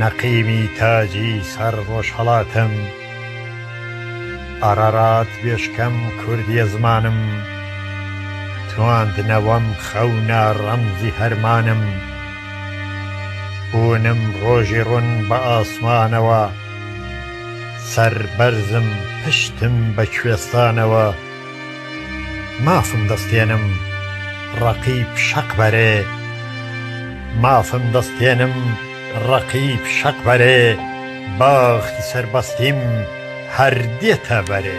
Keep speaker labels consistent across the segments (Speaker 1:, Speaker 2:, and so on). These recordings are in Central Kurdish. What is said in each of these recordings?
Speaker 1: نەقیمی تاجی سەر ڕۆژهەڵاتم ئارارات بێشکەم کوردیە زمانم تواندنەوەم خەونە ڕەمزی هەرمانم بوونم ڕۆژی ڕون بە ئاسمانەوە سەربەرزم پشتم بە کوێستانەوە مافم دەستێنم ڕەقیب شەق بەرێ مافم دەستێنم ڕەقیب شەق بەرێ باخی سەربەستیم هەر دێتە بەرێ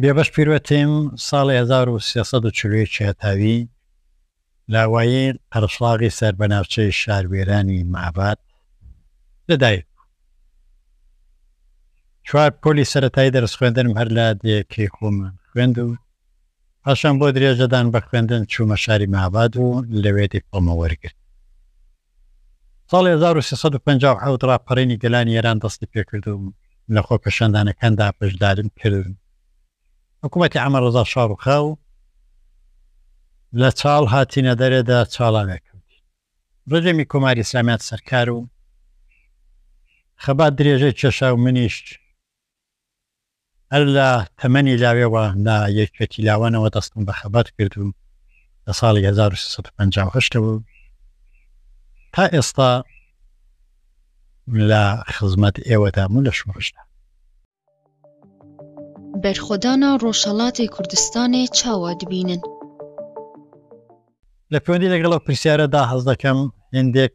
Speaker 1: بێبەش پیروەتیم ساڵی هەزار و سێ سەد و چل و یەک هەتاوی لاوایین قەرەشڵاغی سەر بە ناوچەی شاروێرانی مەهاباد لە دایک بوو. چوار پۆلی سەرەتایی دەرس خوێندنم هەر لە دێیەکەی خۆمان خوێند و پاشان بۆ درێژەدان بە خوێندن چوومە شاری مەهاباد و لەوێ دیپڵۆمە وەرگرت. ساڵی هەزار و سێ سەد و پەنجا و حەوت ڕاپەڕینی گەلانی ئێران دەستی پێکرد و لە خۆپێشاندانەکاندا بەشداریم کرد. حکوومەتی عەمە ڕەزا شا ڕووخا و لە چاڵ هاتینە دەرێدا چاڵاوێ کەوتین. ڕژێمی کۆماری ئیسلامی هات سەر کار و خەبات درێژەی کێشا و منیش. هەر لە تەمەنی لاوێوە لە یەکیەتی لاوانەوە دەستم بە خەبات کرد و لە ساڵی هەزار و سێ سەد و پەنجا و هەشت ەوە تا ئێستا لە خزمەت ئێوەدام و لە شوڕشدا. بەرخۆدانا
Speaker 2: ڕۆژهەڵاتێ کوردستانێ چاوا دبینن.
Speaker 1: لە پەیوەندی لەگەڵ ئەو پرسیارە دا هەست دەکەم هێندێک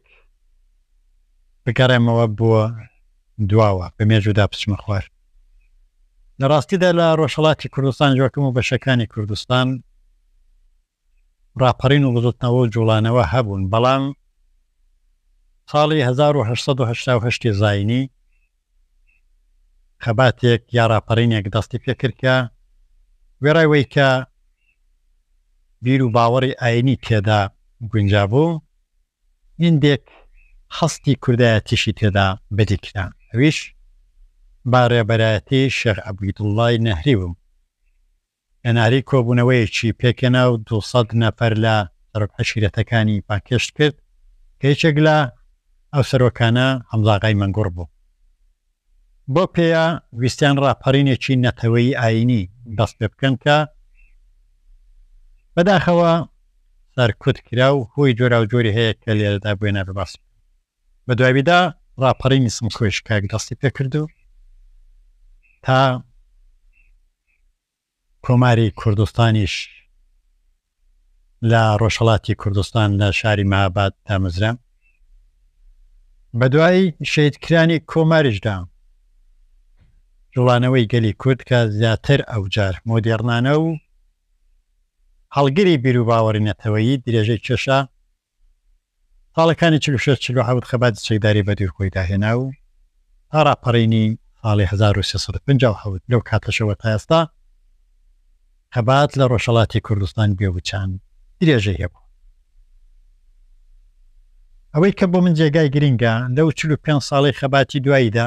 Speaker 1: بگەڕێمەوە بۆ دواوە بە مێژوو دا بچمە خوار. لە ڕاستیدا لە ڕۆژهەڵاتی کوردستان جۆکم و بەشەکانی کوردستان ڕاپەڕین و بزوتنەوە و جوڵانەوە هەبوون بەڵام ساڵی هەزار و هەشت سەد و هەشتا و هەشت زاینی خەباتێک یا ڕاپەڕینێک دەستی پێ کرد کە وێڕای وەی کە بیر و باوەڕی ئاینی تێدا گونجا بوو هیندێک هەستی کوردایەتیشی تێدا بەدی کرا ئەویش با ڕێبەرایەتی شێخ عەبیدوڵڵای نەهری بوو. هەناریی کۆبوونەوەیەکی پێکهێنا و دوو سەد نەفەر لە سەرۆکعەشیرەتەکانی بانگهێشت کرد کە یەکێک لە ئەو سەرۆکانە حەمزاغای مەنگوڕ بوو. بەو پێیە ویستیان ڕاپەڕینێکی نەتەوەیی ئایینی دەست پێ بکەن کە بەداخەوە سەرکوت کرا و هۆی جۆراوجۆری هەیە کە لێرەدا بۆیە نابێ باسی بکەم. بە دواویدا ڕاپەڕینی سمکۆیش کاک دەستی پێ کرد و تا کۆماری کوردستانیش لە ڕۆژهڵاتی کوردستان لە شاری مەهاباد دامەزرا بە دوایی شەیدکرانی کۆماریشدا جوڵانەوەی گەلی کورد کە زیاتر ئەوجار مۆدێڕنانە و هەڵگری بیرروباوەڕی نەتەوەیی درێژەی کێشا ساڵەکانی چل و شەش چل و حەوت خەباتی چەکداری بەدووی خۆیدا هێنا و تا ڕاپەڕینی ساڵی هەزار و سێ سەد و پەنجا و حەوت لەو کاتەشەوە تا ئێستا خەبات لە ڕۆژهەڵاتی کوردستان بێ وچان درێژەی هەبووە. ئەوەی کە بۆ من جێگای گرنگە لەو چل و پێنج ساڵەی خەباتی دواییدا،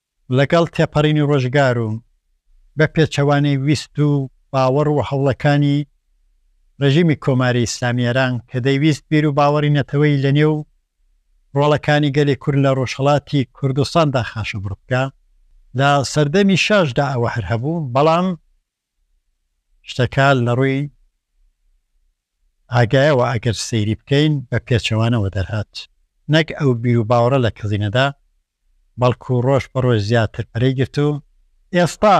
Speaker 1: لەگەڵ تێپەڕینی ڕۆژگار و بە پێچەوانەی ویست و باوەڕ و هەوڵەکانی ڕێژیمی کۆماری ئیسلامی ئێران کە دەیویست بیر و باوەڕی نەتەوەیی لە نێو ڕۆڵەکانی گەلی کورد لە ڕۆژهەڵاتی کوردستاندا خاشەبڕ بکا، لە سەردەمی شاش دا ئەوە هەر هەبوو، بەڵام شتەکان لە ڕووی ئاگایەوە ئەگەر سەیری بکەین بە پێچەوانەوە دەرهات، نەک ئەو بیر و باوەڕە لە کزی نەدا، بەڵکو ڕۆژ بە ڕۆژ زیاتر پەرەی گرت و ئێستا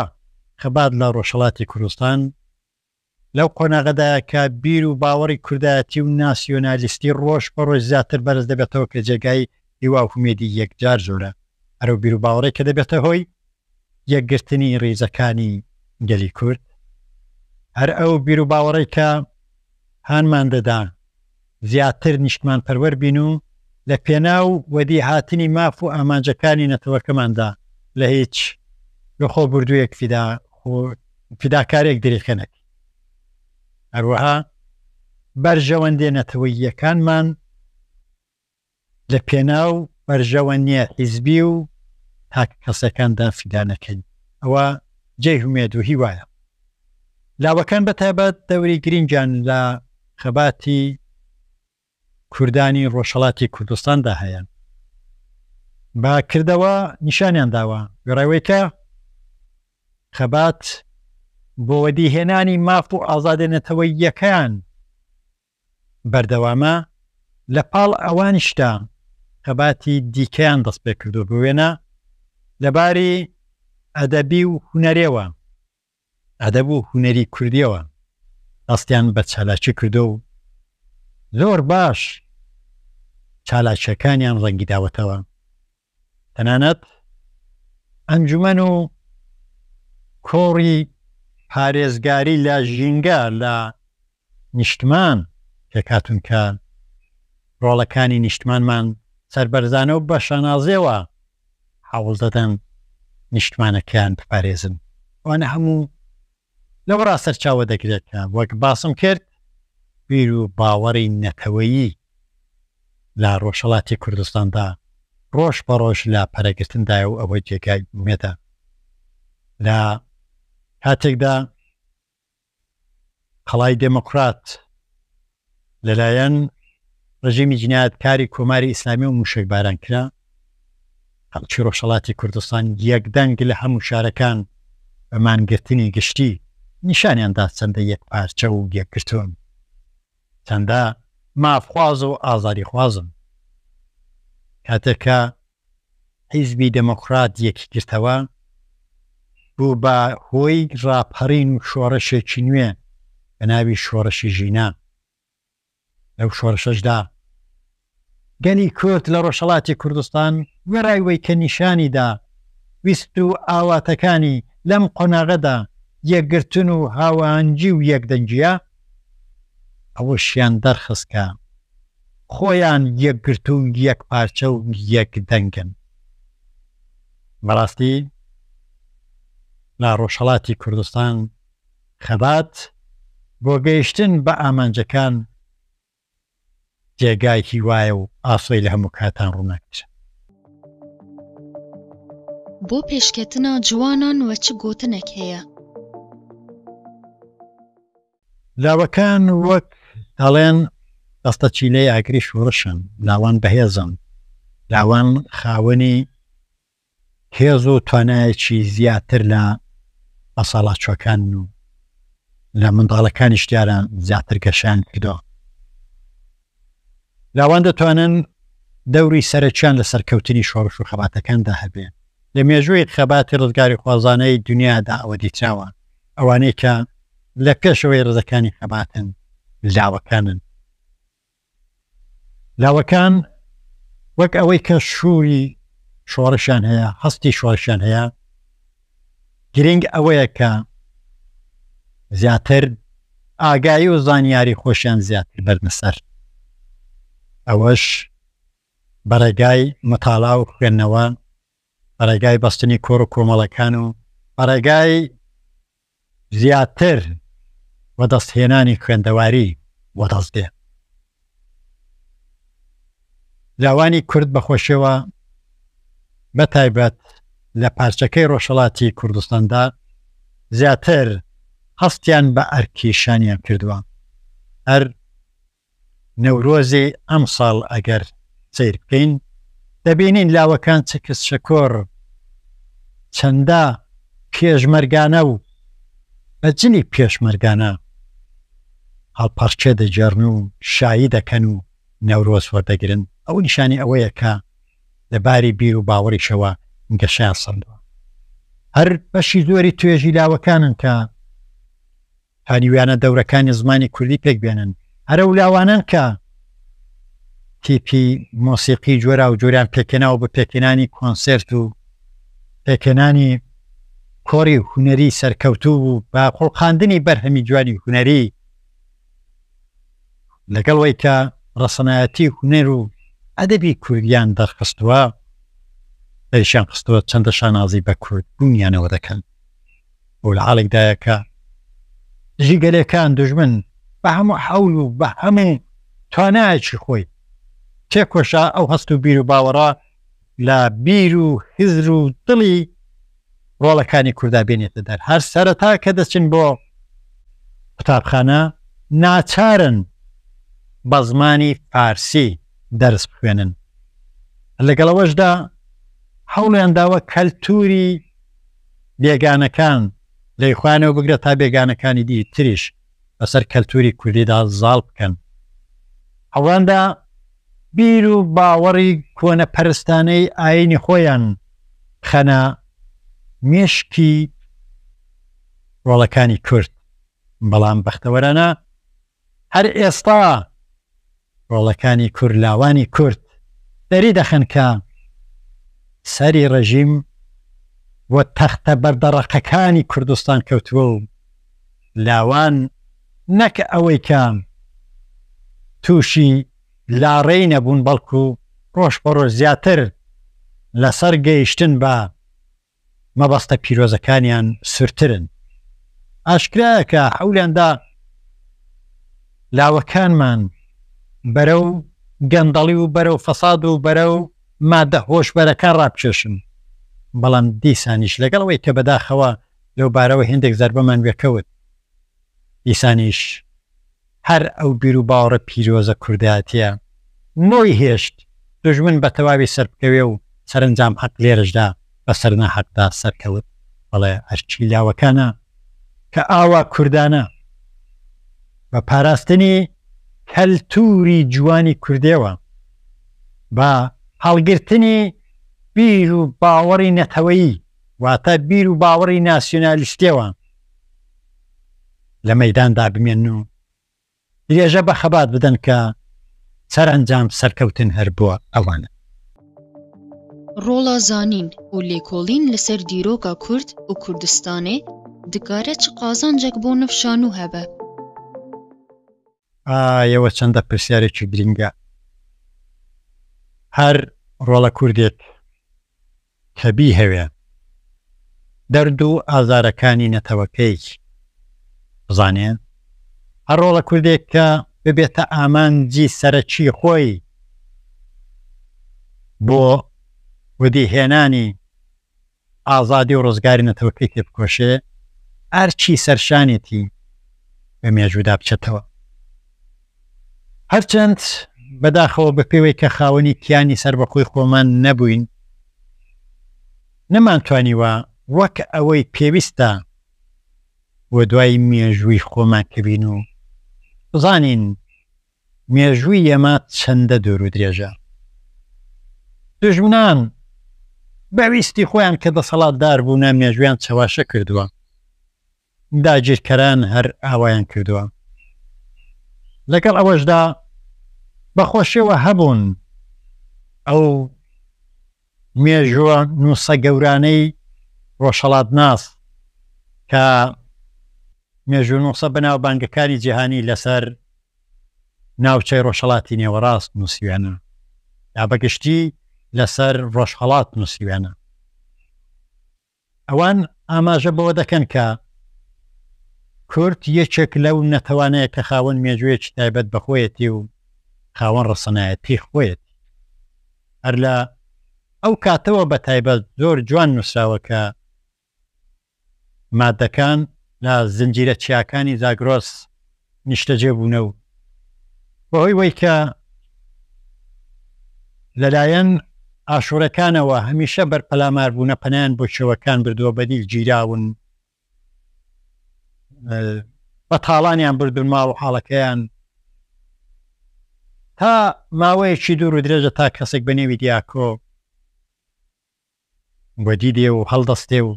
Speaker 1: خەبات لە ڕۆژهەڵاتی کوردستان لەو قۆناغەدایە کە بیر و باوەڕی کوردایەتی و ناسیۆنالیستی ڕۆژ بە ڕۆژ زیاتر بەرز دەبێتەوە کە جێگای هیوا و هومێدی یەکجار زۆرە ئەرەو بیر و باوەڕێک کە دەبێتە هۆی یەکگرتنی ریزەکانی گەلی کورد، هەر ئەو بیروباوەڕەی کە هانمان دەدا زیاتر نیشتمانپەروەر بین و لە پێناو وەدی هاتنی ماف و ئامانجەکانی نەتەوەکەماندا لە هیچ لەخۆبوردوویەک فیدا فیداکارێک دریخە نەکەین. هەروەها بەرژەوەندیە نەتەوەییەکانمان. لە پێناو بەرژەوەنیە حیزبی و تاک کەسیەکاندا فیدا نەکەین ئەوە جێی هومێد و هیوایە. لاوەکان بە تایبەت دەوری گرینگیان لە خەباتی کوردانی ڕۆژهەڵاتی کوردستاندا هەیە. بە کردەوە نیشانیان داوە وێڕای کە خەبات بۆ وەدیهێنانی ماف و ئازادی نەتەوەییەکان بەردەوامە لە پاڵ ئەوانیشدا خەباتی دیکەیان دەستپێکردووە بۆ وێنە لە باری ئەدەبی و هونەرێوە ئەدەب و هونەری کوردیەوە دەستیان بە چالاکی کردووە و زۆر باش چالاکیەکانیان ڕەنگی داوەتەوە. تەنانەت ئەنجومەن و کۆڕی پارێزگاری لە ژینگە لە نیشتمان پێکهاتوون کە ڕۆڵەکانی نیشتمانمان سەربەرزانە و بە شانازیەوە هەوڵ دەدەن نیشتمانەکەیان بپارێزن ئەوانە هەموو لەوەڕا سەرچاوە دەگرێت کە وەک باسم کرد بیر و باوەڕی نەتەوەیی لە ڕۆژهەڵاتی کوردستاندا ڕۆژ بە ڕۆژ لە پەرەگرتندایە و ئەوە جێگای ئومێدە لە کاتێکدا قەڵای دێموکڕات لەلایەن ڕژیمی جنایەتکاری کۆماری ئیسلامی و موشەکباران کرا، خەڵکی ڕۆژهەڵاتی کوردستان یەک دەنگ لە هەموو شارەکان بە مانگرتنی گشتی نیشانیان دا چەندە یەکپارچە و یەکگرتوون، چەندە مافخواز و ئازادیخوازن. کاتێک کە حیزبی دێموکڕات یەکیگرتەوە بوو بە هۆی ڕاپەڕین و شۆڕشێکی نوێ بە ناوی شۆڕشی ژینان. لەو شۆڕشەشدا گەلی کورد لە ڕۆژهەڵاتی کوردستان وێڕای وەی کە نیشانی دا ویست و ئاواتەکانی لەم قۆناغەدا یەکگرتن و هاوئاهەنگی و یەکدەنگییە، ئەوەشیان دەرخست کە خۆیان یەکگرتوو و یەکپارچە و یەکدەنگن. بەڕاستی لە ڕۆژهەڵاتی کوردستان خەبات بۆ گەیشتن بە ئامانجەکان جێگای هیوایە و ئاسۆی لە هەموو کاتان ڕووناکترە.
Speaker 2: بۆ پێشکەتنا جوانان وە چ گۆتنەک هەیە.
Speaker 1: لاوەکان وەک دەڵێن دەستە چیلەی ئاگری شوڕشن، لاوان بەهێزن، لاوان خاوەنی هێز و توانایەکی زیاتر لە بەساڵاچووەکان و لە منداڵەکانیش دیارە زیاتر گەشەیان کردووە. لاوان دەتوانن دەوری سەرەکیان لە سەرکەوتنی شۆڕش و خەباتەکاندا هەبێ. لە مێژووی خەباتی ڕزگاریخوازانەی دنیادا ئەوە دیتراوە، ئەوانەی کە لە پێشەوەی ڕزەکانی خەباتن لاوەکانن. لاوەکان وەک ئەوەی کە شوری شۆڕشیان هەیە هەستی شۆڕشیان هەیە گرنگ ئەوەیە کە زیاتر ئاگایی و زانیاری خۆشیان زیاتر بەرنەسەر ئەوەش بەڕێگای مەتاڵا و خوێندنەوە بەڕێگای بەستنی کۆڕ و کۆمەڵەکان و بەڕێگای زیاتر وەدەستهێنانی خوێندەواری وەدەست دێ. لاوانی کورد بەخۆشیەوە بەتایبەت لە پارچەکەی ڕۆژهڵاتی کوردستاندا زیاتر هەستیان بە ئەرکی شانیان کردووە هەر نەورۆزی ئەمساڵ ئەگەر سەیر بکەین دەبینین لاوەکان چکس شکۆر چەندە پێشمەرگانە و بە جلی پێشمەرگانە هەڵپەڕکێ دەگێڕن و شایی دەکەن و نەورۆز وەردەگرن، ئەوە نیشانی ئەوەیە کە لە باری بیر و باوەڕیشەوە گەشەیان سەندووە. هەر بەشی زۆری توێژی لاوەکانن کە هەریویانە دەورەکانی زمانی کوردی پێک بێنن. هەر ئەو لاوانەن کە تیپی مۆسیقی جۆراوجۆریان پێکهێناوە بۆ پێکهێنانی کۆنسێرت و پێکهێنانی کۆڕی هونەری سەرکەوتوو و بە خوڵقاندنی بەرهەمی جوانی هونەری، لەگەڵ وەی کە ڕەسەنایەتی هونەر و ئەدەبی کوردیان دەرخستووە، دەریشیان خستووە چەندە شانازی بە کوردبوونیانەوە دەکەن. ئەو لە حاڵێکدایە کە دژی گەلێکان دوژمن بە هەموو حەول و بە هەموو توانایەکی خۆی تێکۆشا، ئەو هەست و بیر و باوەڕە لە بیر و هزر و دڵی ڕۆڵەکانی کوردا بێنێتە دەر، هەر سەرەتا کە دەچن بۆ قوتابخانە ناچارن بە زمانی فارسی دەرس بخوێنن، لەگەڵ ئەوەشدا هەوڵیان داوە کەلتووری، بێگانەکان لەی خۆیانەوە بگرە تا بێگانەکانی دی تریش بەسەر کەلتوری کوردیدا زاڵ بکەن. ئەواندا بیر و باوەڕی کۆنە پەرستانەی ئاینی خۆیان بخەنە مێشکی ڕۆڵەکانی کورد. بەڵام بەختەوەرانە هەر ئێستا ڕۆڵەکانی کورلاوانی کورد دەریدەخەن کە سەری ڕێژیم بۆ تەختە بەردەڕەقەکانی کوردستان کەوتووە و لاوان نەک ئەوەی کە تووشی لاڕێی نەبوون بەڵکوو ڕۆژ بە ڕۆژ زیاتر لەسەر گەیشتن بە مەبەستە پیرۆزەکانیان سورترن. ئاشکرایە کە حەولیان دا لاوەکانمان بەرەو گەندەڵی و بەرەو فەساد و بەرەو مادە هۆشبەرەکان ڕابکێشن، بەڵام دیسانیش لەگەڵ ئەوەی کە بەداخەوە لەوبارەوە هێندێک زەربەمان وێکەوت، دیسانیش. هەر ئەو بیروباوەڕە پیرۆزە کوردایەتیە نۆی هێشت دوژمن بە تەواوی سەربکەوێ و سەرەنجام حەق لێرەشدا بە سەر ناحەقدا سەرکەوت. بەڵێ ئەرکی لاوەکانە کە ئاوا کوردانە بە پاراستنی کەلتوری جوانی کوردێوە، بە هەڵگرتنی بیروباوەڕی نەتەوەیی واتە بیروباوەڕی ناسیونالیستێوە، لە مەیداندا بمێنن و درێژە بە خەبات بدەن کە سەرەنجام سەرکەوتن هەر بۆ ئەوانە. ڕۆڵە
Speaker 2: زانین و لێکۆڵین لەسەر دیرۆکە کورد و کوردستانێ دکارە چ قازانجەک بۆ نڤ شانوو هەبە؟
Speaker 1: ئایەوە چەندە پرسیارێکی گرینگە هەر ڕۆڵە کوردێک کە بیهەوێ دەرد و ئازارەکانی نەتەوەکەی بزانێ، هەر ڕۆڵە کوردێک کە ببێتە ئامانجی سەرەکی خۆی بۆ وەدی هێنانی ئازادی و ڕزگاری نەتەوەکەی تێبکۆشێ، ئەرکی سەرشانێتی بە مێژوودا بچێتەوە. هەرچەند بەداخەوە بەپێوەی کە خاوەنی کیانی سەربەخۆی خۆمان نەبووین، نەمانتوانیوە وەک ئەوەی پێویستە بۆ دوای مێژووی خۆمان کەوین و بزانین مێژووی ئێمە چەندە دوورودرێژە. دوژمنان بە ویستی خۆیان کە دەسەڵاتدار بوونە مێژوویان چەواشە کردووە. داگیرکەران هەر ئاوایان کردووە. لەگەڵ ئەوەشدا بە خۆشیەوە هەبوون ئەو مێژووە نووسە گەورانەی ڕۆژهەڵاتناس کە مێژوونووسە بەناوبانگەکانی جیهانی لەسەر ناوچەی ڕۆژهەڵاتی نێوەڕاست نووسیویانە یا بەگشتی لەسەر ڕۆژهەڵات نووسیویانە. ئەوان ئاماژە بەوە دەکەن کە کورد یەکێک لەو نەتەوانەیە کە خاوەن مێژوویەکی تایبەت بە خۆیەتی و خاوەن ڕەسەنایەتی خۆیەتی هەر لە ئەو کاتەوە بە تایبەت زۆر جوان نووسراوە کە مادەکان لە زنجیرە چیاکانی زاگرۆس نیشتەجێ بوونە و بەهۆی وەی کە لەلایەن ئاشوورەکانەوە هەمیشە بەر پەلامار بوونە پەنایان بۆ چێوەکان بردووە بەدیل گیراون بە تاڵانیان بردون ماڵ و حاڵەکەیان تا ماوەیەکی دوور و درێژە تا کەسێک بە نێوی دیاکۆ وەدی دێ و هەڵدەستێ و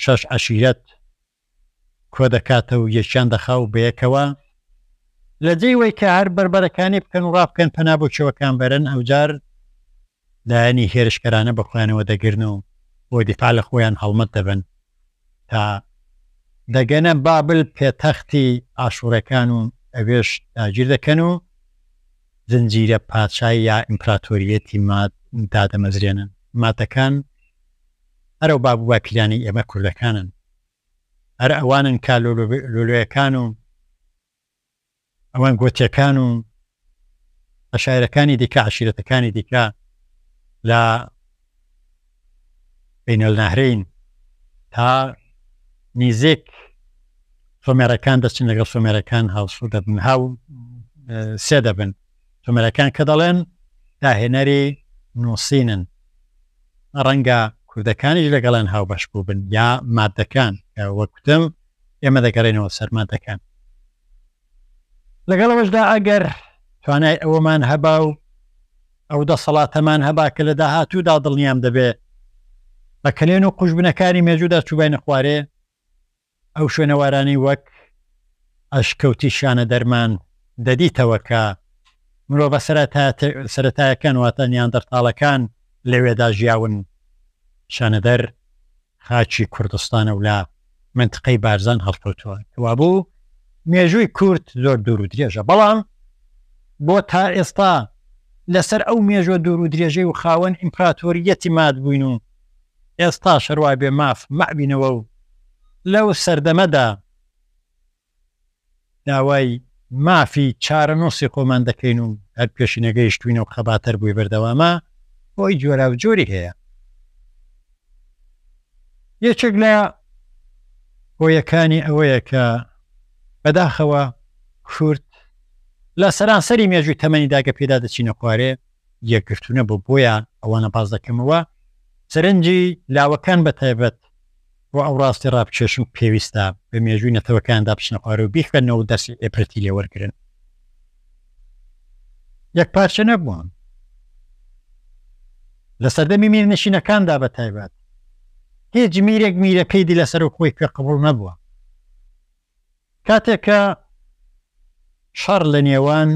Speaker 1: شەش عەشیرەت کۆدەکاتە و یەکیان دەخا و بەیەکەوە لە جێی وەی کە هەر بەربەرەکانی بکەن و ڕابکەن پەنا بۆ کێوەکان بەرن ئەوجار لایەنی هێرشکەرانە بە خۆیانەوە دەگرن و بۆ دیفاع لە خۆیان هەڵمەت دەبەن تا دەگەنە بابل پێتەختی ئاشووڕێکان و ئەوێش داگیر دەکەن و زنجیرە پادشا یا ئیمپراتۆرییەتی ماد دادەمەزرێنن. مادەکان هەر ئەو باب و باپیرانەی ئێمە کوردەکانن. هەر ئەوانن کە لۆلۆیەکان و ئەوان گۆتییەکان و عەشایرەکانی دیکە، عەشیرەتەکانی دیکە لە. بین النهرین تا نیزیک سۆمێرەکان دەچن لەگەڵ سۆمێرەکان هاوسو دەبن هاو سێ دەبن سۆمێرەکان کە دەڵێن داهێنەری نووسینن ڕەنگە کوردەکانیش لەگەڵیان هاوبەش بوو بن یا مادەکان وەکوتم ئێمە دەگەڕێنەوە سەرمادەکان لەگەڵ ئەوەشدا ئەگەر توانای ئەوەمان هەبا و ئەو دەسەڵاتەمان هەبا کە لە داهاتوودا دڵنیام دەبێ بە کەلێن و قوژبنەکانی مێژوودا چووباینە خوارێ، ئەو شوێنەوارانەی وەک ئەشکەوتی شانەدەرمان دەدیتەوە کە مرۆڤە سەرەتایەکان واتە نیاندەرتاڵەکان لەوێدا ژیاون، شانەدەر، خاکی کوردستانە و لە مەنتقەی بارزان هەڵکەوتووە، کەوابوو مێژووی کورد زۆر دوور و درێژە، بەڵام بۆ تا ئێستا لەسەر ئەو مێژووە دوور و درێژەی و خاوەن ئیمپراتۆرییەتی مات بووین و ئێستاش هەر وابێ ماف مابینەوە و لەو سەردەمەدا، داوای مافی چارەنووسی خۆمان دەکەین و هەر پێشی نەگەیشتووینە و خەباتەر بووی بەردەوامە، هۆی جۆراوجۆری هەیە، یەکێک لە هۆیەکانی ئەوەیە کە بەداخەوە کورد لە سەرانسەری مێژووی تەمەنی داگە پێدا دەچینە خوارێ یەکگرتوونەبوو، بۆیە ئەوانە باس دەکەمەوە سەرنجی لاوەکان بەتایبەت، بۆ ئەو ڕاستیە ڕابکێشن پێویستە بە مێژووی نەتەوەکاندا بچنە خوارەوە بیخوێننەوە و دەرسی عیبرەتی لێ وەرگرن یەکپارچە نەبوون لە سەردەمی میرنشینەکاندا بە تایبەت هیچ میرێک میرەکەی دی لەسەر و خۆی پێ قبول نەبووە کاتێک کە شەڕ لە نێوان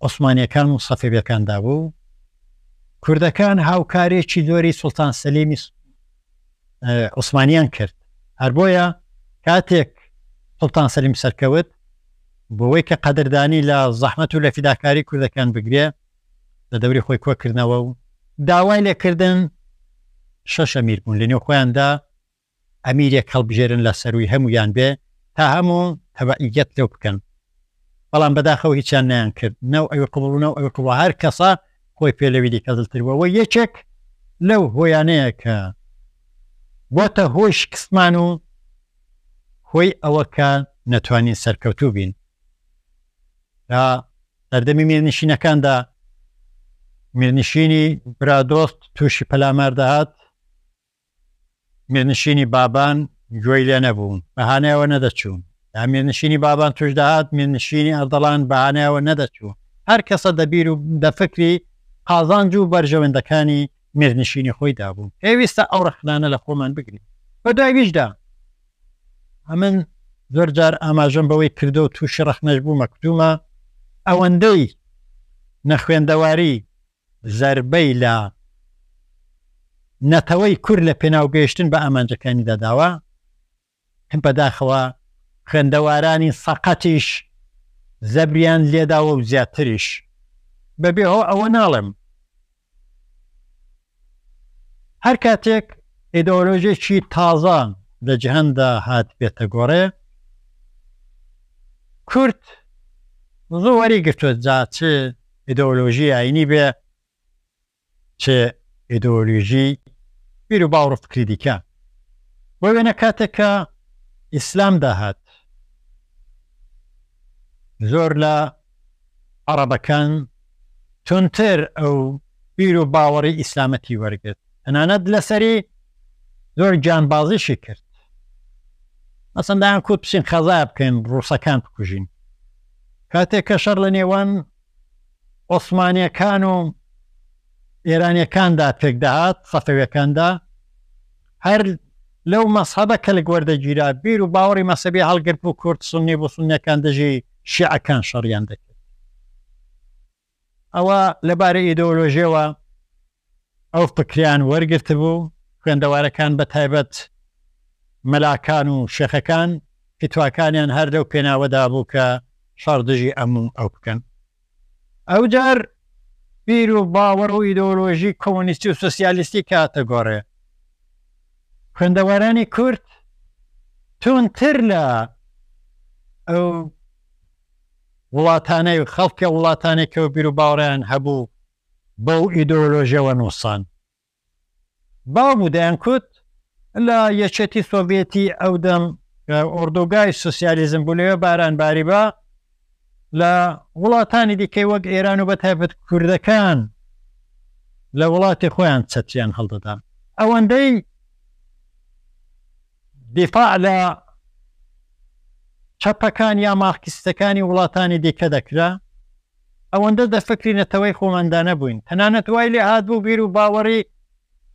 Speaker 1: عوسمانیەکان و سەفەویەکاندا بوو، کوردەکان هاوکاریی زۆری سوڵتان سەلیمی عوسمانیان کرد، هەر بۆیە کاتێک سوڵتان سەلیم سەرکەوت بۆەوەی کە قەدردانی لە زەحمەت و لە فیداکاری کوردەکان بگرێ لە دەوری خۆی کۆکردنەوە و داوای لێکردن شەشە میر بوون لە نێو خۆیاندا ئەمیرێک هەڵبژێرن لە سەرووی هەموویان بێ تا هەموو تەبعییەت لەو بکەن بەڵام بەداخەوە هیچیان نەیانکرد نەو ئەوی قبوڵ و نەو ئەوی قبوڵ هەر کەسە خۆی پێ لەوی دیکە زلتر بووە وە یەکێک لەو هۆیانەیە کە بۆتە هۆی شکستمان و هۆی ئەوە کە نەتوانین سەرکەوتوو بین لە سەردەمی میرنشینەکاندا میرنشینی برادۆست تووشی پەلامار دەهات میرنشینی بابان گوێی لێ نەبوو، بەهانای ئەوە نەدەچوو. یا میرنشینی بابان تووش دەهات، میرنشینی ئەردەڵان بەهانای ئەوە نەدەچوو. هەر کەسە دە بیر و دە فکری قازانج و بەرژەوەندەکانی میرنشینی خۆی دا بوو. پێویستە ئەو ڕەخنانە لە خۆمان بگرین. بە دوای ویشدا، ئەمن زۆر جار ئاماژەم بەوەی کردوە و تووشی ڕەخنەش بوومە، کتومە، ئەوەندەی نەخوێندەواری زەربەی لە نەتەوەی کورد لە پێناو گەیشتن بە ئامانجەکانیدا داوە، بەداخەوە خوێندەوارانی سەقەتیش زەبریان لێداوە و زیاتریش، بەبێ هۆ ئەوە ناڵێم، هەر کاتێک ئیدۆلۆژێکی تازە لە جیهاندا هاتبێتە گۆڕێ، کورد زوو وەریگرتووە، جا چ. ئیدۆلۆژی ئاینی بێ چ ئیدۆلۆژی بیر و باوڕ و فکری دیکە بۆ وێنە کاتێک کە ئیسلام داهات زۆر لە عەڕەبەکان تونتر ئەو بیر و باوەڕی ئیسلامەتی وەرگرت تەنانەت لەسەری زۆر گیانبازیشی کرد مەسەن دایان کوت بچین خەزای بکەین ڕووسەکان بکوژین کاتێک کە شەر لە نێوان ئۆسمانیەکان و ئێرانیەکاندا پێکدەهات سەفەوەکاندا هەر لەو مەسحەبە کەلک وەردەگیرا بیر و باوەڕی مەسەبی هەڵگرت بوو کورد سنی بۆ سنەکان دژی شیعەکان شەڕیان دەکرد ئەوا لە بارە ئیدۆلۆژیەوە ئەو فکریان وەرگرتبوو، خوێندەوارەکان بە تایبەت مەلاکان و شێخەکان فتواکانیان هەر لەو پێناوەدا بوو کە شەڕ دژی ئەم و ئەو بکەن. ئەوجار بیر و باوەڕ و ئیدۆلۆژی کۆمۆنیستی و سۆسیالیستی کەاتە گۆڕێ. خوێندەوارانی کورد توندتر لە ئەو وڵاتانەی و خەڵکی وڵاتانەی کە و بیروباوەڕیان هەبوو بەو ئیدۆلۆژیەوە نووسان باو بوو دەیانکوت لە یەکێتی سۆڤیەتی ئەو دەم کە ئۆردوگای سوسیالیزم بوو لەوێ باران باریبا لە وڵاتانی دیکەی وەک ئێران و بە تایبەت کوردەکان لە وڵاتی خۆیان چەتریان هەڵدەدان ئەوەندەی دیفاع لە چەپەکان یا مارکسیستەکانی وڵاتانی دیکە دەکرا، ئەوەندە دە فکری نەتەوەی خۆماندا نەبووین، تەنانەت وای لێ هاتبوو بیر و باوەڕی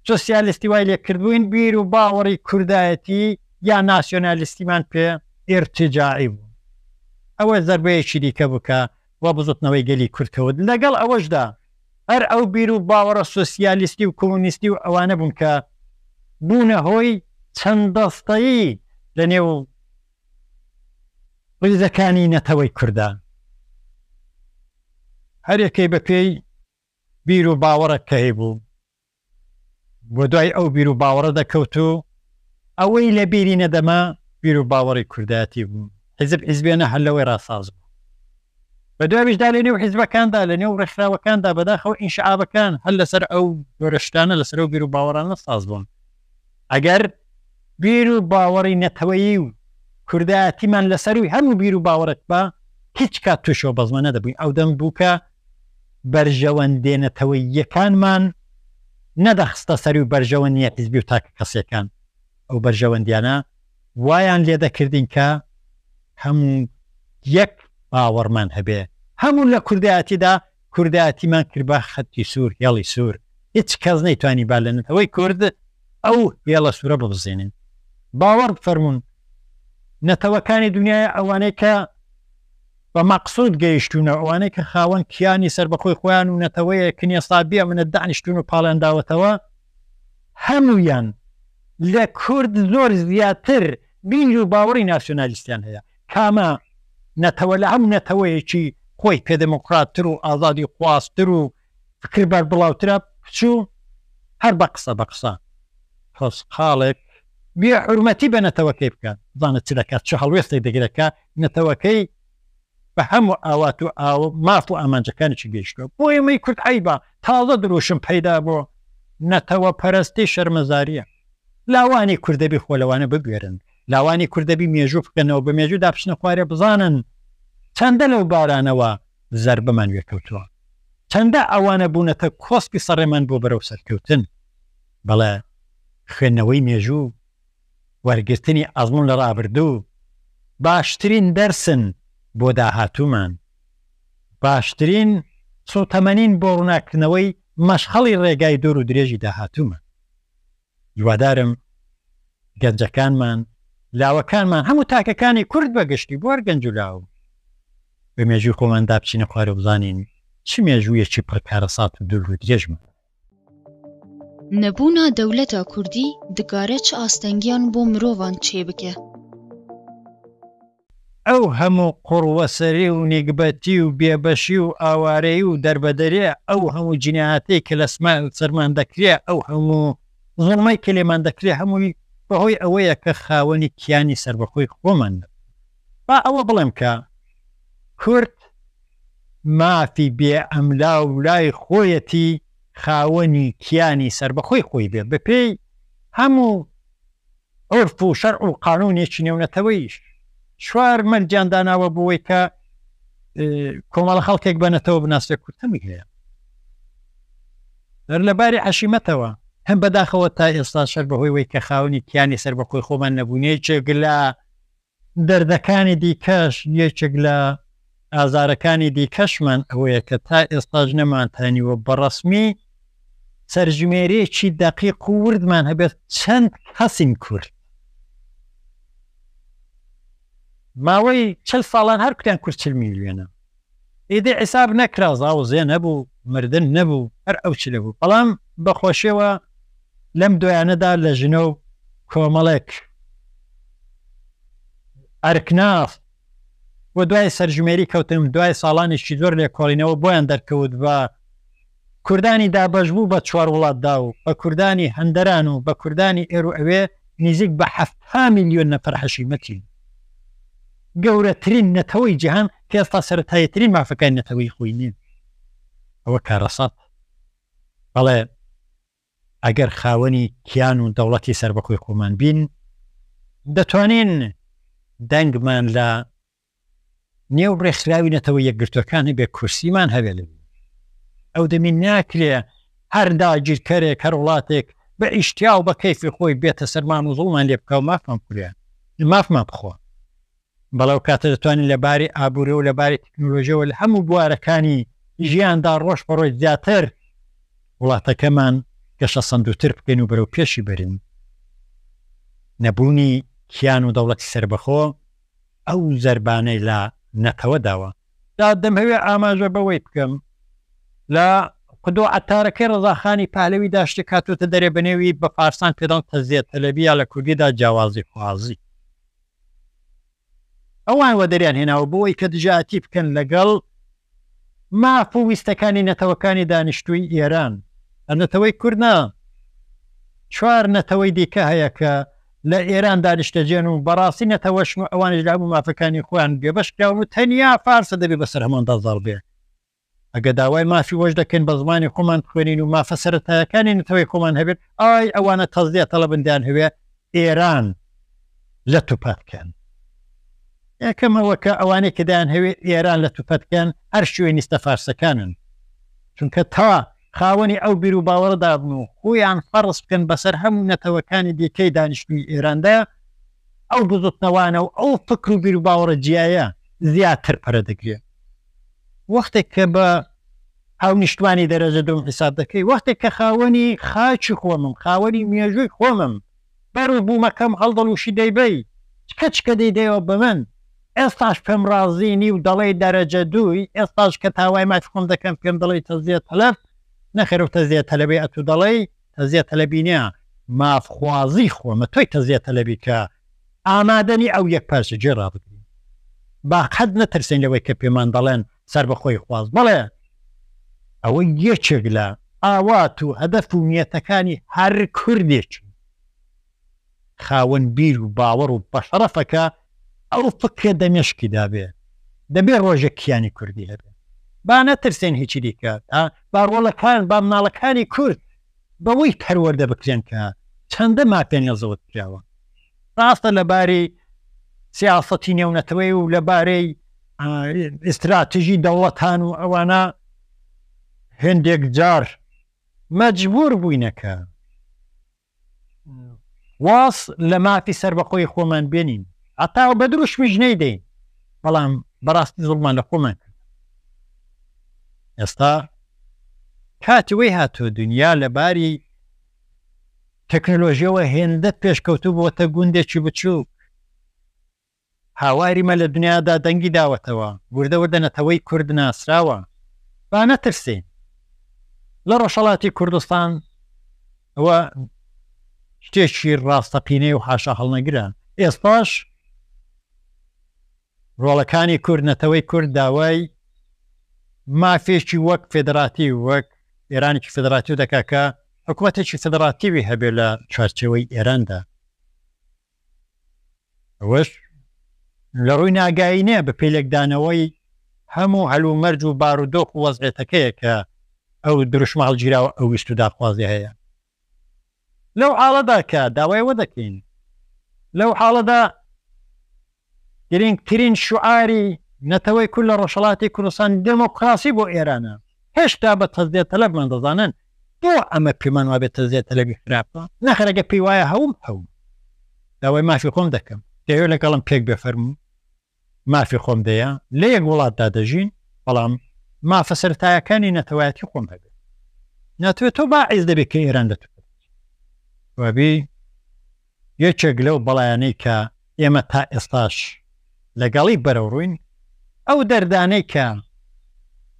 Speaker 1: سۆسیالیستی وای لێ کردبووین بیر و باوەڕی کوردایەتی یا ناسیۆنالیستیمان پێ ئیرتیجاعی بوو. ئەوە زەربەیەکی دیکە بوو کە و بزوتنەوەی گەلی کورد کەوت، لەگەڵ ئەوەشدا هەر ئەو بیر و باوەڕە سۆسیالیستی و کۆمۆنیستی و ئەوانە بوون کە بوونە هۆی چەند دەستەیی لە نێو ڕیزەکانی نەتەوەی کوردا، هەر یەکەی بە پێی بیر و باوەڕێک کە هەیبوو. بۆ دوای ئەو بیر و باوەڕە دەکەوت و ئەوەی لە بیری نەدەما بیر و باوەڕی کوردایەتی بوو، حیزب حیزبێنە هەر لەوەی ڕا ساز بوو. بە دوایشدا لە نێو حیزبەکاندا، لە نێو ڕێکخراوەکاندا، بەداخەوە ئینشعابەکان هەر لەسەر ئەو جۆرە شتانە، لەسەر ئەو بیر و باوەڕانە ساز بوون. ئەگەر بیر و باوەڕی نەتەوەیی و کوردایەتیمان لەسەرووی هەموو بیر و باوەڕێک با، هیچ کات تووشی ئەو بەزمە نەدەبووین، ئەو دەم بوو کە بەرژەوەندێ نەتەوەییەکانمان نەدەخستە سەر و بەرژەوەندیە حیزبی و تاکە کەسیەکان ئەو بەرژەوەندیانە وایان لێدەکردین کە هەموو یەک باوەڕمان هەبێ هەموو لە کوردایەتیدا کوردایەتیمان کرد بە خەتی سوور هێڵی سوور هیچ کەس نەیتوانی با لە نەتەوەی کورد ئەو هێڵە سوورە ببزێنین باوەڕ بفەرموون نەتەوەکانی دنیای ئەوانەی کە بە مەقسود گەیشتوونە، ئەوانەی کە خاوەن کیانی سەربەخۆی خۆیان و نەتەوەیەکن یەستا بێ منەت دانیشتوون و پاڵیان داوەتەوە، هەموویان لە کورد زۆر زیاتر بیر و باوەڕی ناسیۆنالیستیان هەیە، کامە نەتەوە لە هەموو نەتەوەیەکی خۆی پێ دێمۆکڕاتتر و ئازادی خوازتر و فکر بەر بڵاوترە پچوو هەر بە قسە بە قسە خۆسقاڵێک بێ حرمەتی بە نەتەوەکەی بکات بزانە چ دەکات چه هەڵوێستێک دەگرەکە نەتەوەکەی بە هەموو ئاوات و ئاو ماف و ئامانجەکانێکی گەیشتوە بۆ ئێمەی کورد عیبا تازە دروشم پەیدا بۆ نەتەوە پەرستی شەرمەزاریە لاوانی کوردەبی خۆ لەوانە بگوێرن لاوانی کوردەبی مێژوو بکەنەوە بە مێژوو داپشنە خوارێ بزانن چەندە لەو بارانەوە زەربەمان وێ کەوتووە چەندە ئەوانە بوونەتە کۆسپی سەڕێمان بۆ بەرەو سەرکەوتن بەڵێ خوێندنەوەی مێژوو وەرگرتنی ئەزموون لە ڕابردوو باشترین دەرسن بۆ داهاتوومان باشترین سووتەمەنین بۆ ڕووناککردنەوەی مەشخەڵی ڕێگای دوور و درێژی داهاتوومان هیوادارم گەنجەکانمان، لاوەکانمان، هەموو تاکەکانی کورد بە گشتی، بۆ هەر گەنج و لاو، بە مێژووی خۆماندا بچینە خوارێ و بزانین چ مێژوویەکی پڕ کارەسات و دوور و درێژمان هەیە. نەبوونا
Speaker 2: دەولەتا کوردی دکارە چ ئاستەنگیان بۆ مرۆڤان چێ بکە.
Speaker 1: ئەو هەموو قوڕوەسەری و نیگبەتی و بێبەشی و ئاوارەیی و دەربەدەریە، ئەو هەموو جینایەتەی کە لە سەرمان دەکرێ، ئەو هەموو زوڵمەی کە لێمان دەکرێ هەمووی بەهۆی ئەوەیە کە خاوەنی کیانی سەربەخۆی خۆمان نەبووین. با ئەوە بڵێم کە کورد مافی بێ ئەملا و لای خۆیەتی خاوەنی کیانی سەربەخۆی خۆی بێ بەپێی هەموو عورف و شەرع و قانوونێکی نێونەتەوەییش چوار مەرجیان داناوە بۆی کە کۆمەڵە خەڵکێک بە نەتەوە بناسێ کورد هەمی هەیە هەر لە باری عشیمەتەوە هەم بەداخەوە تا ئێستا شەر بەهۆی وی کە خاونی کیانی سەر بەخۆی خۆمان نەبوونێ جێگلا دەردەکانی دیکەش، یەکێک لە ئازارەکانی دیکەشمان ئەوەیە کە تا ئێستاش نەمانتانیوە بە ڕەسمی سەرژمێریێکی دەقیق و وردمان هەبێت چەند کەسین کورد ماوەی چل ساڵان هەر کوتیان کورد چل میلیۆنە ئیدی عیساب نەکرا زاوزێ نەبوو مردن نەبوو هەر ئەو چلە بوو بەڵام بە خۆشیەوە لەم دوایانەدا لە ژنە و کۆمەڵێک ئەرکناف و دوای سەرژمێری کەوتم دوای ساڵانێکی زۆر لێکۆڵینەوە بۆیان دەرکەوت بە کوردانی دابەشبوو بە چوار وڵاتدا و بە کوردانی هەندەران و بە کوردانی ئێرو ئەوێ نیزیک بە حەفتا میلیۆن نەفەر حەشیمەتین. گەورەترین نەتەوەی جیهان کە ئێستا سەرەتاییترین مافەکانی نەتەوەیی خۆی نیە. ئەوە کارەسات. بەڵێ ئەگەر خاوەنی کیان و دەوڵەتی سەربەخۆی خۆمان بین، دەتوانین دەنگمان لە نێو ڕێکخراوی نەتەوە یەکگرتووەکان هەبێ کورسیمان هەبێ لە ئەو دەمی ناکرێ هەر داگیرکەرێک هەر وڵاتێک بە ئیشتیا و بە کەیفی خۆی بێتە سەرمان و زوڵمان لێ بکە و مافمان کوریان مافمان بخۆن بەڵەو کاتە دەتوانین لە باری ئابووری و لە باری تەکنۆلۆژیەوە لە هەموو بوارەکانی ژیاندا ڕۆژ بەڕۆژ زیاتر وڵاتەکەمان گەشە سندوتر بکەین و بەرەو پێشی بەرین نەبوونی کیان و دەوڵەتی سربەخۆ ئەو زەربانەی لە نەتەوە داوە. جا دەمهەوێ ئاماژە بەوەی بکەم لە قدو عەتارەکەی ڕەزاخانی پەهلەویدا شتێک هاتۆتە دەرێ بە نێوی بە فارسان پێدەڵن تەزیە تەلەبی یا لە کوردیدا جیاوازی خوازی ئەوان وەدەریان هێناوە بۆوەی کە دژایەتی بکەن لەگەڵ ماف و ویستەکانی نەتەوەکانی دانیشتووی ئێران، هەر نەتەوەی کورد نا، چوار نەتەوەی دیکە هەیە کە لە ئێران دانیشتەجێن و بەڕاستی نەتەوەشن و ئەوانیش لە هەموو مافەکانی خۆیان بێبەش کراون و تەنیا فارسە دەبێ بەسەر هەمواندا زاڵ بێ. ئەگەر داوای مافی وەش دەکەین بە زمانی خۆمان بخوێنین و مافە سەرەتایەکانی نەتەوەی خۆمان هەبێت، ئای ئەوانە تەزدیە تەڵەبن دەیانهەوێ ئێران لە توپەت کەن یەکەمەوەکە ئەوانەی کە دایان هەوێت ئێران لە توپەت کەن هەر شوێنیستە فارسەکانن چونکە تا خاوەنی ئەو بیر و باوەڕ دابن و خۆیان فەرز بکەن بەسەر هەموو نەتەوەکانی دیکەی دانیشتوی ئێراندا ئەو بزوتنەوانە و ئەو فکر و بیر و باوەڕە جیایە زیاتر پەرە دەگرێت وەختێک کە بە هاونیشتمانی دەرەجە دووم حیساب دەکەی وەختێک کە خاوەنی خاکی خۆمم خاوەنی مێژووی خۆمم بەر و بوومەکەم هەڵدەڵوشی دەیبەی چکە چکە دەیدەیەوە بە من ئێستاش پێم ڕازی نی و دەڵێی دەرەجە دووی ئێستاش کە تاوای مافی خۆم دەکەم پێم دەڵێی تەزیە تەلەف نەخێر و تەزیە تەلەبی ئەتوو دەڵێی تەزیە تەلەبینە مافخوازی خۆمە تۆی تەزیە تەلەبی کە ئامادەنی ئەو یەکپارچەجییە ڕابگرین، با قەت نەترسێین لەوەی کە پێمان دەڵێن سەربەخۆییخواز، بەڵێ ئەوە یەکێک لە ئاوات و هەدەف و نیەتەکانی هەر کوردێکی خاوەن بیر و باوەڕ و بەشەڕەفە کە ئەو فکرە دە مێشکیدا بێ، دەبێ ڕۆژێک کیانی کوردی هەبێ. با نەترسێین هیچی دیکە، با ڕۆڵەکان، با مناڵەکانی کورد بەوەی پەروەردە بکرێن کە چەندە ماپێنێڵ زەوت کراوە ڕاستە لە باری سیاسەتی نێونەتەوەی و لە بارەی ئیستراتژی دەوڵەتان و ئەوانە هندێک جار مەجبور بووینەکە واز لە مافی سربەخۆی خۆمان بێنین ئەتا بە دروشمیش نەیدەین بەڵام بەڕاستی زڵمان لە خۆمان کرد ئێستا کاتی وی هاتووە دونیا لە باری تەکنەلۆژیەوە هێندە پێشکەوتوو بۆتە گوندێکی بچووک هاواری مە لە دونیادا دەنگی داوەتەوە وردە وردە نەتەوەی کورد ناسراوە با نەترسین لە ڕۆژهەڵاتی کوردستان ئەوە شتێکی ڕاستەقینەی و حاشا هەڵنەگرە ئێستاش ڕۆڵەکانی کورد، نەتەوەی کورد داوای مافێکی وەک فێدڕاتیو، وەک ئێرانێکی فێدڕاتیو دەکات کە حکومەتێکی فێدڕاتیوی هەبێت لە چوارچێوەی ئێراندا. ئەوەش لە ڕووی ناگایی نیە، بە پێی لێکدانەوەی هەموو هەلومەرجو بارودۆخو وەزعێتەکەیە کە ئەو دروشمە هەڵگیراوە ئەو ویستو داخوازیە هەیە. لەو حاڵەدا کە داوای ئەوە دەکەین، لەو حاڵەدا گرینگترین شوعاری نەتەوەی کورد لە ڕۆژهەڵاتی کوردستان دێمۆکڕاسی بۆ ئێرانە، هێشتا بە تەزیە تەلەبمان دەزانن، بۆ ئەمە پێمان وابێ تەزیە تەلەبی خراپە؟ نەخێر ئەگەر پێی وایە هەوم هەوم داوای مافی خۆم دەکەم، دەیەوێ لەگەڵم پێک بێ فەرموو. مافی خۆم دەیە لە یەک وڵاتدا دەژین بەڵام مافە سەرەتایەکانی نەتەوایەتی خۆم هەبێت ناتوێت تۆ باعز دەبێت کە ئێران لە تو وابی یەکێک لەو بەڵیانەی کە ئێمە تا ئێستاش لەگەڵی بەرەڕووین ئەو دەردانەی کە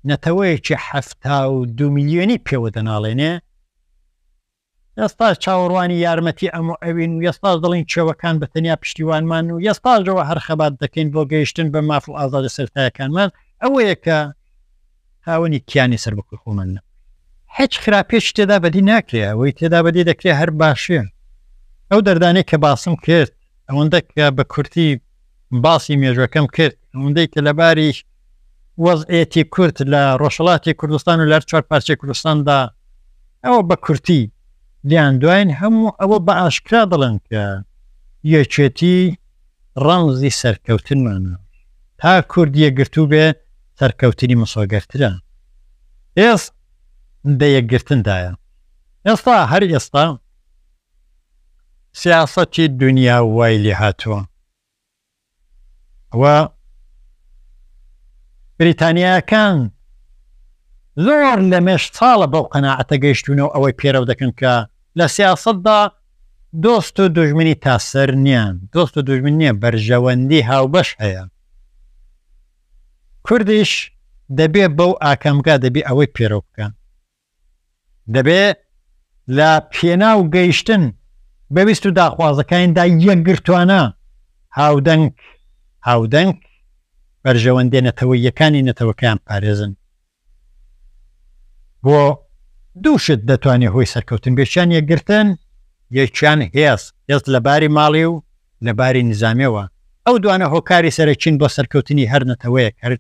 Speaker 1: نەتەوەیەکی حەفتا و دو میلیۆنی پێوە دەناڵێنێ یەستا چاوەڕوانی یارمەتی ئەم و ئەوین و یەستا دەڵێین چێوەکان بە تەنیا پشتیوانمان و یەستاژەوە هەر خەبات دەکەین بۆ گەیشتن بە ماف و ئازادە سەرەتایەکانمان ئەوەیە کە خاوەنی کیانی سەربەخۆی خۆمان نەبووین. هیچ خراپیەکی تێدا بەدی ناکرێ ئەوەی تێدا بەدی دەکرێ هەر باشیە. ئەو دەردانەی کە باسم کرد ئەوەندە کە بە کورتی. باسی مێژوەکەم کرد ئەوەندەی کە لەباری وەزعێتی کورد لە ڕۆژهەڵاتی کوردستان و لەر چوار پارچەی کوردستاندا ئەوە بە کورتی لیان دوین هەموو ئەوە بە ئاشکرا دەڵێن کە یەکێتی ڕەمزی سەرکەوتنمانە تا کورد یەگرتوو بێ سەرکەوتنی مسۆگەرترە ئێست دە یەکگرتندایە ئێستا هەر ئێستا سیاسەتی دونیا وای لێهاتووە و بریتانییاکان زۆر لەمێژ ساڵە بەو قەناعەتە گەیشتوونەوە ئەوەی پێرەو دەکەن کە لە سیاسەتدا دۆست و دوژمنی تاسەر نیان دۆست و دوژمن نییە بەرژەوەندی هاوبەش هەیە کوردیش دەبێ بەو ئاکامگا دەبێ ئەوەی پێرەو بکەن دەبێ لە پێناو گەیشتن بە ویست و داخوازەکانیدا یەکگرتووانە هاودەنگ هاودەنگ بەرژەوەندیە نەتەوەییەکانی نەتەوەکەیان پارێزن بۆ دوو شت دەتوانێت هۆی سەرکەوتن بێکیان یەکگرتن یەکیان هێز هێز لە باری ماڵی و لە باری نزانامەوە ئەو دوانە هۆکاری سەرەکین بۆ سەرکەوتنی هەر نەتەوەیەک هەر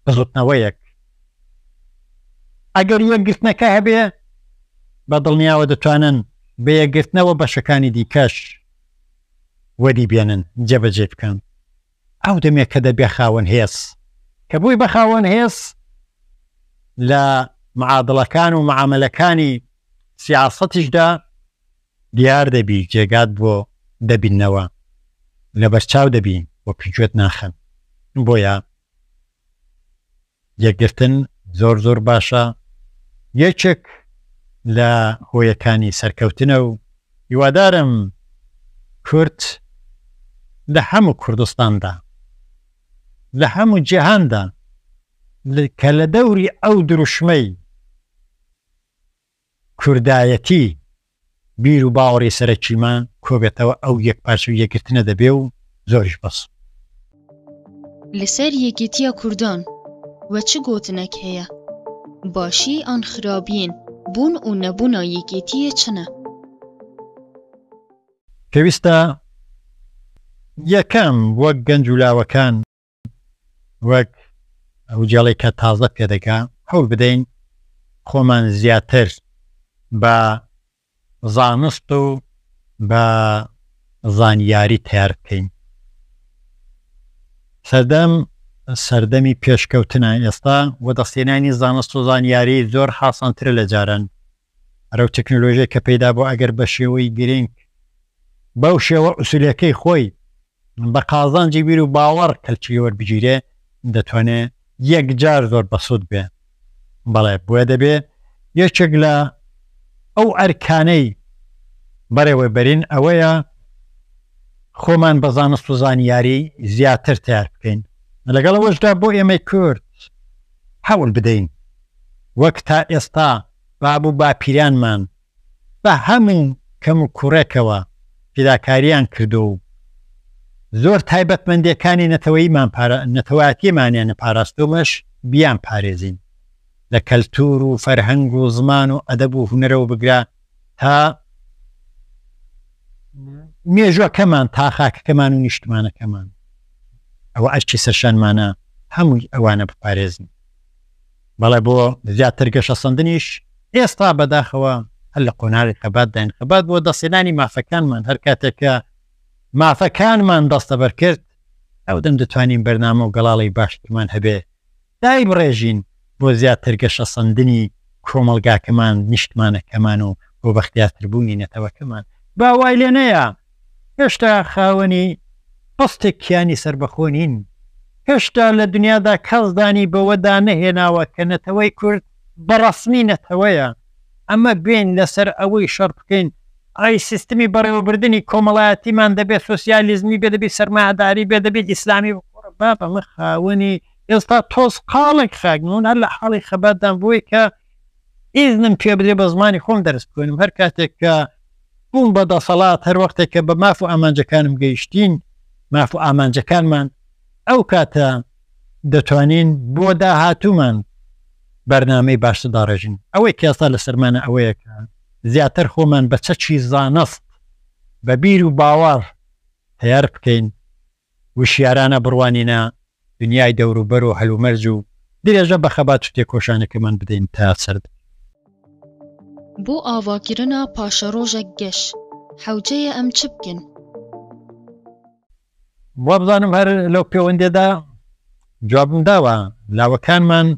Speaker 1: بزوتنەوەیەک ئەگەر یەکگرتنەکە هەبێ بە دڵنیاوە دەتوانن بە یەکگرتنەوە بەشەکانی دیکەش وەدی بێنن جێبەجێ بکەن ئەو دەمێک کە دەبێ خاوەن هێز کە بووی بە خاوەن هێز لە معادڵەکان و معاملەکانی سیاسەتیشدا دیار دەبی جێگات بۆ دەبینەوە لەبەرچاو دەبین وە پگوێت ناخن بۆیە یەکگرتن زۆر زۆر باشە یەکێک لە هۆیەکانی سەرکەوتنە و هیوادارم کورد لە هەموو کوردستاندا لە هەموو جیهاندا کە لە دەوری ئەو دروشمەی کوردایەتی بیر و باوەڕی سەرەکیمان کۆبێتەوە ئەو یەکپارچە و یەکگرتنە دەبێ و زۆریش بەس. لەسەر
Speaker 2: یەکێتیە کوردان وە چ گۆتنەک هەیە باشی ئان خرابیین بوون و نەبوونا یەکێتیە چنە؟ پێویستە
Speaker 1: یەکەم وەک گەنج و لاوەکان. وەک ئەو جەڵەی کە تازە پێدەگا هەوڵ بدەین خۆمان زیاتر بە زانست و بە زانیاری تەیار بکەین سەردەم سەردەمی پێشکەوتنە ئێستا وەدەستێنانی زانست و زانیاری زۆر حاسانترە لە جاران ئەرەو تەکنۆلۆژیای کە پەیدا بووە ئەگەر بە شێوەی گرینگ بەو شێوە ئوسولیەکەی خۆی بە قازانجی بیر و باوەڕ کەلکی وەربگیرێ دەتوانێ یەکجار زۆر بەسوود بێ بەڵێ بۆیە دەبێ یەکێک لە ئەو ئەرکانەی بەڕێوەبەرین ئەوەیە خۆمان بە زانست و زانیاری زیاتر تیار بکەین لەگەڵەوەشدا بۆ ئێمەی کورد حەول بدەین وەک تا ئێستا باب و باپیرانمان بە هەموو کەموکوڕێکەوە فیداکارییان کردووە و زۆر تایبەتمەندێکانی نەتەوەییمانیانە پاراستوومش بیانپارێزین لە کەلتوور و فەرهەنگ و زمان و ئەدەب و هونەرەوە بگرە تا مێژووەکەمان تا خاکەکەمان و نیشتمانەکەمان ئەوە ئەرکی سەرشانمانە هەمووی ئەوانە بپارێزین. بەڵێ بۆ زیاتر گەشەسەندنیش ئێستا بەداخەوە هەر لە قۆناغی خەبات داین خەبات بۆ دەستێنانی مافەکانمان هەر کاتێکە مافەکانمان دەستەبەر کرد ئەو دەم دەتوانین بەرنامە و گەڵاڵی باشترمان هەبێ دای بڕێژین بۆ زیاتر گەشەسەندنی کۆمەڵگاکەمان نیشتمانەکەمان و بۆ بەختیاتربوونی نەتەوەکەمان با وای لێ نەیە هێشتا خاوەنی هەستێک کیانی سەربەخۆ نین، هێشتا لە دنیادا کەس دانی بەوەدا نەهێناوە کە نەتەوەی کورد بە ڕەسمی نەتەوەیە، ئەمە بێین لەسەر ئەوەی شەڕ بکەین، ئەی سیستمی بەڕێوەبردنی کۆمەڵایەتیمان دەبێ سۆسیالیزمی بێ، دەبێ سەرمایەداری بێ، دەبێ ئیسلامی بێ، کوڕە بابە ئەمە خاوەنی ئێستا تۆزقاڵێک خاک نین، من هەر لە حاڵی خەباتدام بۆی کە ئیزنم پێبدرێ بە زمانی خۆم دەرس بخوێنم، هەر کاتێک کە بوون بە دەسەڵات هەر وەختێک کە بە ماف و ئامانجەکانم گەیشتین، ماف و ئامانجەکانمان، ئەو کاتە دەتوانین بۆ داهاتوومان بەرنامەی باشتر داڕێژین. ئەوەی کە ئێستا لەسەرمانە ئەوەیە کە زیاتر خۆمان بە چەکی زانست، بە بیر و باوەڕ تەیار بکەین، وشیارانە بڕوانینە دنیای دەوروبەر و هەلومەرج و درێژە بە خەبات و تێکۆشانەکەمان بدەین تا سەر بکەوین.
Speaker 2: بۆ ئاواکرنا پاشەرۆژەک گەش حەوجەیە ئەم چ بکن؟
Speaker 1: وابزانم هەر لەو پێوەندێدا جوابم داوە لاوەکانمان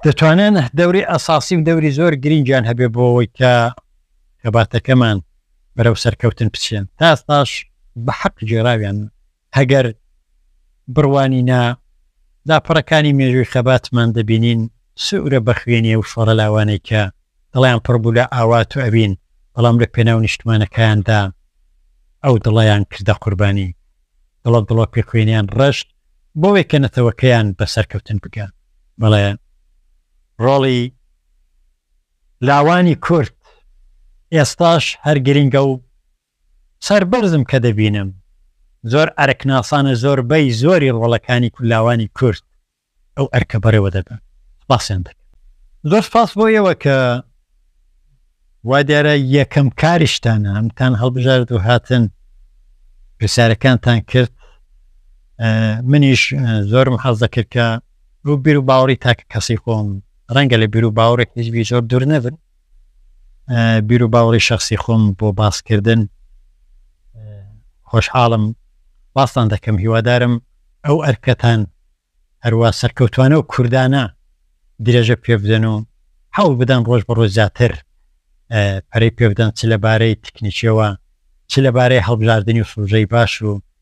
Speaker 1: دەتوانن دەوری ئەساسی و دەوری زۆر گرینگیان هەبێ بۆەوەی کە خەباتەکەمان بەرەو سەرکەوتن بچێن تا ئێستاش بە حەق گێراویانە هەگەر بڕوانی نا لاپەڕەکانی مێژووی خەباتمان دەبینین سوورە بە خوێنی ئەو شۆڕە لاوانەی کە دڵیان پڕ بوو لە ئاوات و ئەوین بەڵام لە پێناو نیشتمانەکایان دا ئەو دڵەیان کردە قوربانی دڵە دڵۆپی خوێنیان ڕشت بۆوەی کە نەتەوەکەیان بە سەرکەوتن بگا بەڵێ ڕۆڵی لاوانی کورد ئێستاش هەر گرنگە و سەربەرزم کە دەبینم زۆر ئەرکناسانە زۆربەی زۆری ڕۆڵەکانی لاوانی کورد ئەو ئەرکە بەڕێوە دەبەن سوپاسیان دەکەم. زۆر سوپاس بۆ ئێوە کە وا دیارە یەکەم کاریشتانە ئەمتان هەڵبژارد و هاتن پرسیارەکانتان کرد منیش زۆرم حەز دەکرد کە بۆ بیر و باوەڕی تاکە کەسی خۆم ڕەنگە لە بیرو باوەڕی حیزبی زۆر دوور نەبن بیرو باوەڕی شخصی خۆم بۆ باسکردن خۆشحاڵم باستان دەکەم هیوادارم ئەو ئەرکەتان هەروە سەرکەوتوانە و کوردانە درێژە پێ بدەن و حەوڵ بدەن ڕۆژ بە ڕۆژ زیاتر پەرەی پێ بدەن چ لەبارەی تکنیکیەوە چ لەبارەی هەڵبژاردننی و فروژەی باش و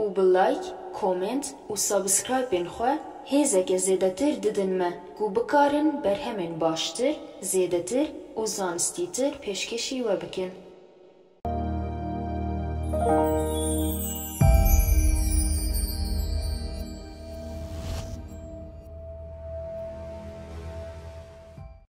Speaker 3: و بە لایک کۆمێنت و سابسکرایپێن خوە هێزەکێ زێدەتر ددنمە گوو بکارن بەرهەمێن باشتر زێدەتر و زانستی تر پێشکێشی وە بکێن.